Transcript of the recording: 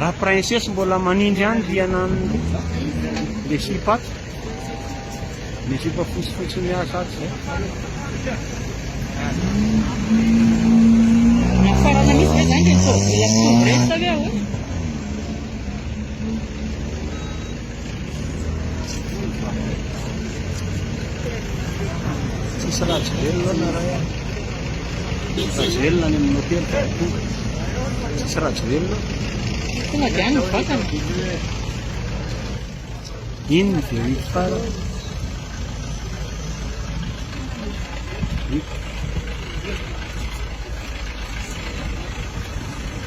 Raha princesse mbola manindry any rihana anle le sipa ato le sipa fotsifotsy miasa ato zay Farana misy ve zany le soa vola sy soa breast ve ao? Tsisy rajoelina na ray a. Rajoelina any amin'ny hotely ka tonga. Tsisy rajoelina. Tonga dia any vatana. Iny ny dia hit fara. Hit.